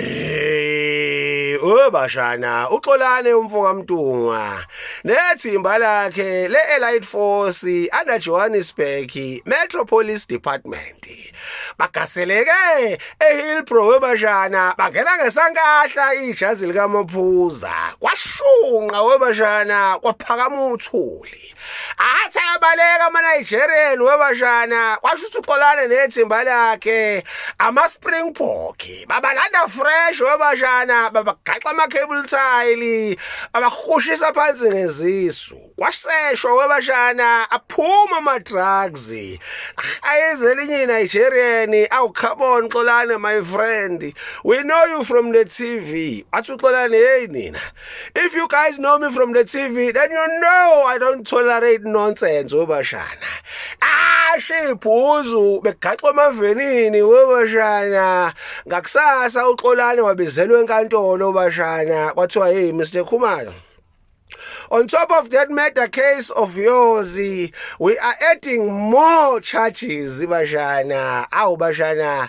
Eh, oh bashana, uxolane umfoka Mtungwa. Nethimba lakhe le Elite Force ana Johannesburg Metro Police Department. Bagaseleke eHillbrow webashana, bangena ngesankahla ijazi likamaphuza. Kwashunqa webashana, kwaphakama uthuli. athi ayabaleka ama-nigerian webashana kwasho ukuthi uxolane nethimba lakhe ama-springbok babalanda fresh webashana babagaxa ama-cable tile babahushisa phansi ngezisu kwaseshwa webashana aphuma ama-drugs ayenze elinye i-nigerian awucarbon xolane my friend we know you from the tv athi uxolane yeyi nina If you guys know me from the TV, then you know I don't tolerate nonsense webashana. Ashe ibhuzu begaxwa amavenini webashana. Ngakusasa uxolane wabizelwe enkantolo webashana. Kwathiwa hey Mr Khumalo On top of that murder case of yours, we are adding more charges, Bashana. Aw, Bashana.